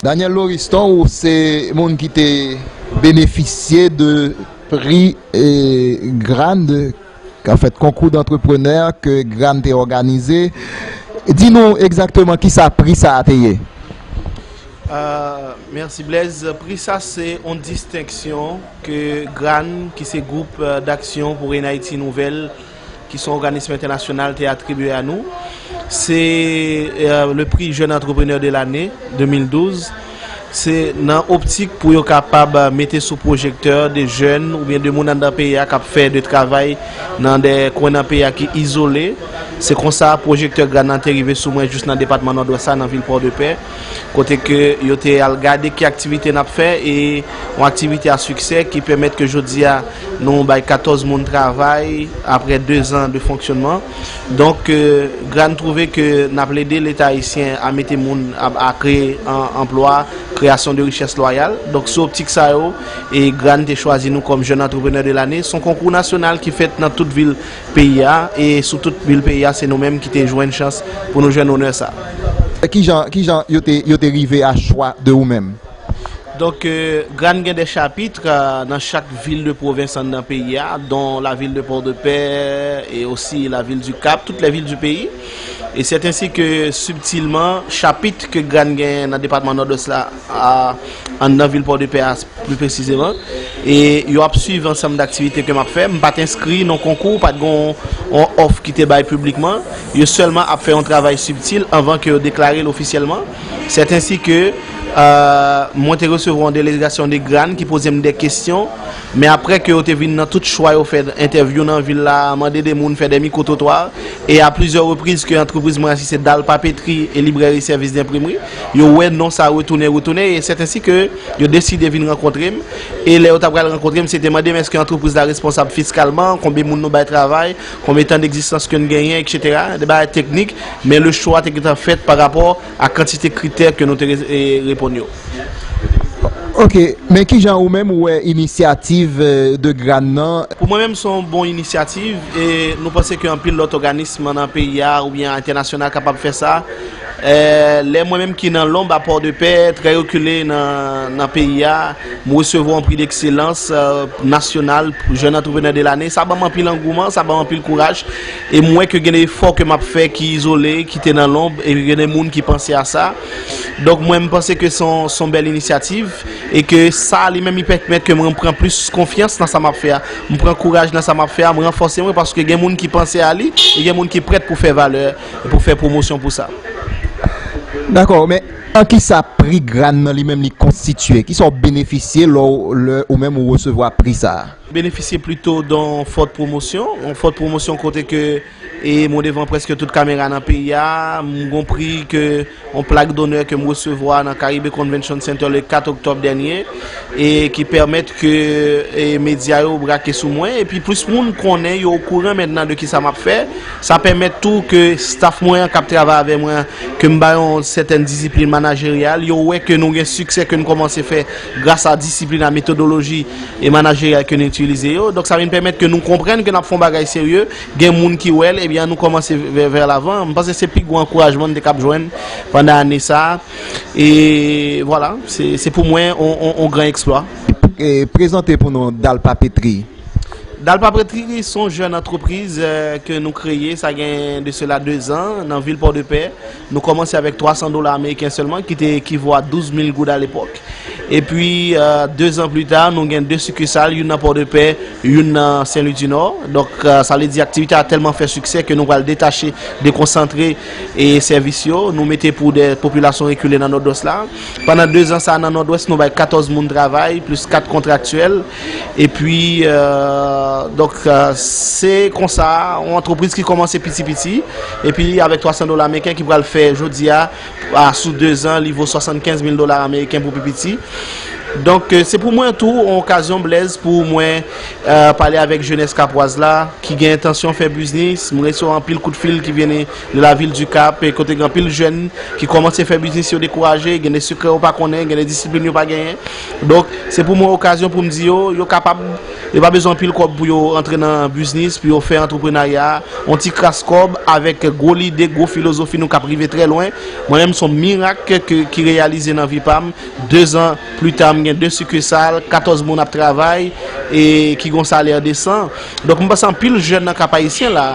Daniel Loriston ou se moun ki te benefisye de pri GRAN, an fèt konkou dantreprenè ke GRAN te òganize. Di nou egzakteman ki sa pri sa a te ye? Mèsi Blaise. Pri sa se yon distenksyon ke GRAN ki se Gwoup Daksyon pou Rèn Ayiti Nouvèl, ki son òganism entènasyonal te atribye a nou, se le prix jeune entrepreneur de l'année 2012, se nan optik pou yo kapab mete sou pwojektè de jèn oubyen de moun anndan peyi a kap fè de travay nan de kwen nan peyi a ki izole, se konsa pwojektè GRANAN te rive sou mwen jous nan depatman Nòdwès la nan vil Pòdepè. kote ke yo te al gade ki aktivite nap fè e yon aktivite a siksè ki pèmèt ke jodi a nou bay 14 moun travay apre 2 zan de fonksyonman. Donk GRAHN twouve ke nap lede leta ayisyen a mete moun a kreye anplwa, kreyasyon de richès lwayal. Donk sou optik sa yo GRAHN te chwazi nou kòm jèn antreprenè de lane. Son konkou nasyonal ki fèt nan tout vil Peyi a, e sou tout bil peyi a, se nou menm ki te jwenn chans pou nou jwenn onè sa a. Ki jan, ki jan yo te, yo te rive a chwa de ou menm? Donk, Grann gen 2 chapitr nan chak vil de pwovens an nan peyi a, don la vil de Pòdepè, e osi la vil di Kap, tout lè vil di peyi. E sèt ensi ke sibtilman, chapitr ke Grann gen nan depatman Nòdwès la, An nan vil Pòdepè a pli presizeman. E yo ap swiv ansanm daktivite ke m ap fè. M pa t enskri nan konkou, pa t gen yon òf ki te bay piblikman. Yo sèlman ap fè yon travay sibtil anvan ke yo deklare l ofisyèlman. Sètensi ke mwen te resevwa yon delegasyon de Grane ki poze m de kesyon. Men apre ke yo te vin nan tout chwa yo fè entèvyou nan vil la, mande de moun fè de mikwo twotwa. E a plizyè repriz ke antrepriz mwen an, si se Dal Papetri e Librèri Sèvis Denprimri. Yo wè non sa retounen, retounen e sèt ensi ke yo deside vin rankontre m. E lè yo ta pral rankontre m, se te mande m èske antrepriz la responsab fiskalman, konbe moun nou bay travay, konbe tan degzistans ke n genyen, eksetera. De bagay teknik, men le chwa te gentan fèt pa rapò a kantite kritè ke nou te reponn yo. Ok, men ki jan ou menm ou wè inisyativ de Grann nan? Pou mwen menm, se yon bon inisyativ e nou panse ke anpil lòt òganism nan peyi a oubyen entènasyonal kapab fè sa. Lè mwen menm ki nan lonb a Pòdepè, trè rekile nan peyi a, m resevwa yon pri dekselans nasyonal pou jèn antreprenè de lane, sa ban m anpil angouman, sa ban m anpil kouraj e m wè ke gen de efò ke m ap fè ki izole, ki te nan lonb e gen de moun ki panse a sa. Donk mwen m panse ke se yon bèl inisyativ e ke sa li menm li pèkmèt ke mwen pran plis konfyans nan sa m ap fè a. M pran kouraj nan sa m ap fè a, m ranfòse mwen paske gen moun ki panse a li e gen moun ki prèt pou fè valè. e pou fè pwomosyon pou sa. Dakò, men an ki sa pri Gran nan li menm li konstitye? Ki sa w benefisye lè ou menm ou resevwa pri sa a? M benefisye plito don fòt pwomosyon, yon fòt pwomosyon kote ke mwen devan prèske tout kamera nan peyi a, m gon pri ke. Yon plak donè ke m resevwa nan Caribe Convention Center le 4 oktòb dènye e ki pèmèt ke medya yo brake sou mwen epi plis moun konnen yo okouran mentnan de kisa m ap fè. Sa pèmèt tou ke staf mwen an k ap travay avè mwen an ke m ba yo yon sètèn disiplin manajeryal, yo wè ke nou gen siksè ke n kòmanse fè gras a disiplin a metodoloji manajeryal ke nou itilize yo. Donk sa vin pèmèt ke nou konprann ke n ap fè yon bagay serye. Gen moun ki wè l, ebyen an nou kòmanse vè lavan. M panse se pi gwo ankourajman n te kab jwenn pandan ane sa a. E vwala, se pou mwen yon gran eksplwa. Prezante pou nou Dal Papetri. Dal Papetri se yon jèn antrepriz ke nou kreye sa gen de sela dezan nan vil Pòdepè. Nou kòmanse avèk 300 dola ameriken sèlman ki te ekivo a 12 mil goud alepòk. Epi, dezan pli ta, nou gen 2 sikisal, youn nan Pòdepè, youn nan Senlwidinò. Donk, sa vle di aktivite a tèlman fè siksè ke nou pral detache, dekonsantre sèvis yo. Nou mete pou de popilasyon rekile nan Nòdwès la. Pandan dezan sa a nan Nòdwès, nou bay 14 moun travay, plis 4 kontraktyèl. Epi, donk, se konsa, yon antrepriz ki kòmanse piti piti, epi avèk 300 dola meriken ki pral fè jodi a, a sou 2 zan, li vo 75 mil dola ameriken pou pi piti. Donk, se pou mwen tou, yon okazyon, Blèz, pou mwen pale avèk jenès kapwaz la, ki gen entansyon fè biznis. M resevwa anpil kout fil ki vini de lavil di Kap, kote gen anpil jèn ki kòmanse fè biznis, yo dekouraje, gen de sekrè yo pa konnen, gen de disiplin yo pa genyen. Donk, se pou mwen okazyon pou m di yo, yo kapab, yo pa bezwen anpil kòb pou yo antre nan biznis, pou yo fè antreprenarya, yon ti kras kòb avèk gwo lide, gwo filozofi nou kap rive trè lwen. Mwen menm son mirak ki reyalize nan vi pa m. Dezan pli ta m gen 2 sikisal, 14 moun ap travay e ki gon salè desan. Donk, m panse anpil jèn nan Kap Ayisyen la,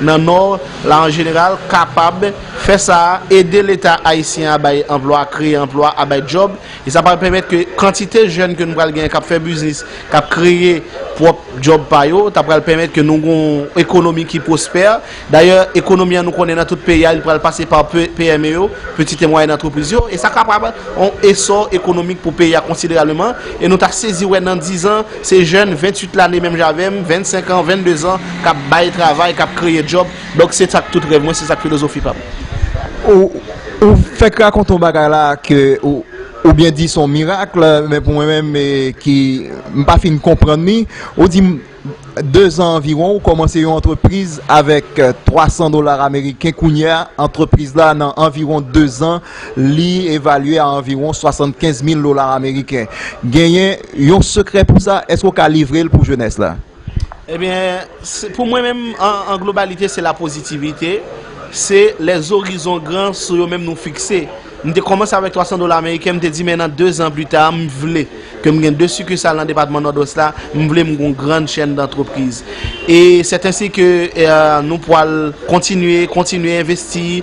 nan Nò la an jeneral kapab fè sa, ede leta ayisyen a bay anplwa, kreye anplwa a bay djòb. E sa pral pèmèt ke kantite jèn ke nou pral genyen k ap fè biznis, k ap kreye pwòp djòb pa yo, ta pral pèmèt ke nou gen yon ekonomi ki pwospè. Dayè, ekonomi an nou konnen nan tout peyi a, li pral pase pa PME yo, Pitit e Mwayèn Antrepriz yo, e sa kapab yon esò ekonomik pou peyi a konsiderableman. E nou ta sezi wè nan dizan, se jèn 28 lane menm jan avè m, 25 an, 22 zan, k ap bay travay, k ap kreye djòb. Donk se sa k tout rèv mwen, se sa k filozofi pa m. Ou fèk rakonte yon bagay la ke ou byen di son mirakl, men pou mwen menm ki m pa fin konprann li, ou di m 2 zan anviwon ou kòmanse yon antrepriz avèk 300 dolar ameriken kounye a antrepriz la nan anviwon 2 zan li evalye a anviwon 75 mil dolar ameriken. Genyen yon sekrè pou sa? Èske ou ka livre l pou jenès la? Ebyen, pou mwen menm an globalite se la pozitivite, se lè zorizon gran sou yo menm nou fikse. M te kòmanse avèk 300 dola ameriken, m te di men nan 2 zan pli ta m vle ke m gen 2 sikisal nan depatman Nòdwès la, m vle m gen yon grann chèn dantrepriz. E sèt ensi ke nou pwal kontinye, kontinye envesti.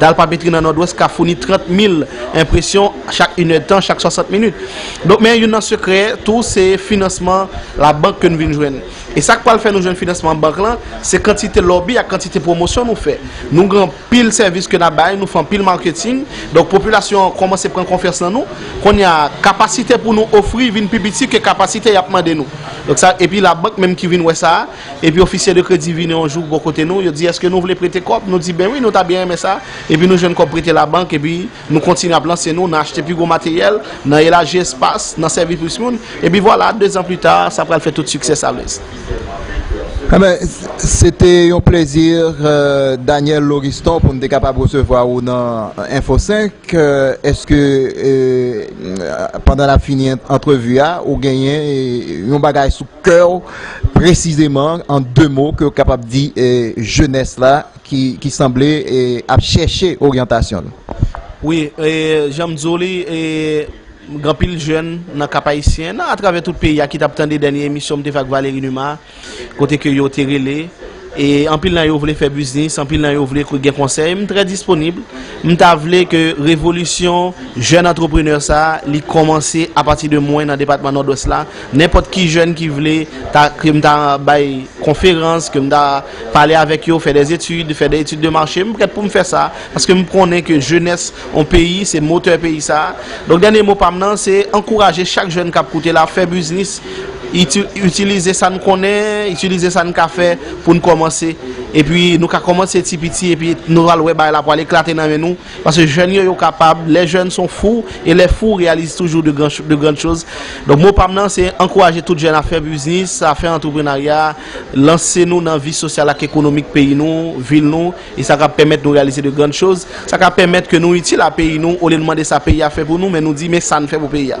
Dal papetri nan Nòdwès ka founi 30 mil enpresyon chak inèdtan, chak 60 minit. Donk men youn nan sekrè tou se finansman labank ke nou vin jwenn. E sa k pral fè nou jwenn finansman bank lan, se kantite lòbi ak kantite pwomosyon nou fè. Nou gen anpil sèvis ke n ap bay, nou fè anpil marketing, donk popilasyon an kòmanse pran konfyans nan nou. Kounye a, kapasite pou nou ofri vin pi piti ke kapasite y ap mande nou. Donk sa, epi labank menm ki vin wè sa a. Epi ofisye de kredi vini yon jou bò kote nou, yo di èske nou vle prete kòb, nou di ben wi nou ta byen renmen sa, epi nou jwenn kòb prete labank epi nou kontinye ap lanse nou nan achte pi gwo materyèl, nan elaji espas, nan sèvi plis moun, epi vwala, dezan pli ta, sa pral fè tout siksè sa vle. Enben, se te yon plezi Daniel Loriston pou m te kapab resevwa ou nan Info 5, èske pandan n ap fini antrevi a ou genyen yon bagay sou kè w Presizeman an 2 mo ke w kapab di jenès la ki sanble ap chèche oryantasyon l? Wi, jan m di w li, gen anpil jèn nan Kap Ayisyen, nan atravè tout peyi a ki t ap tande dènye emisyon m te fè ak Valery Numa a, kote ke yo te rele, e anpil nan yo vle fè biznis, anpil nan yo vle gen konsèy, m trè disponib. M ta vle ke revolisyon jèn antreprenè sa a li kòmanse apati de mwen nan depatman Nòdwès la. Nenpòt ki jèn ki vle ta ke m ta bay konferans, ke m ta pale avèk yo, fè des études, fè des études de marché, m prèt pou m fè sa, paske m konnen ke jenès on peyi se motè peyi sa a. Donk dènye mo pa m nan se ankouraje chak jèn k ap koute la fè biznis, iti, itilize sa n konnen, itilize sa n ka fè pou n kòmanse. Epi nou ka kòmanse ti piti epi nou pral wè bagay la pral eklate nan men nou. Paske jèn yo yo kapab, les jeunes sont fous et les fous réalisent toujours de grands de grandes choses. Donk mo pam nan se ankouraje tout jèn a fè biznis, a fè antreprenarya, lanse nou nan vi sosyal ak ekonomik peyi nou, vil nou e sa ka pèmèt nou reyalize de grandes choses, sa ka pèmèt ke nou itil a peyi nou olye nou mande sa peyi a fè pou nou men nou di men sa n fè pou peyi a.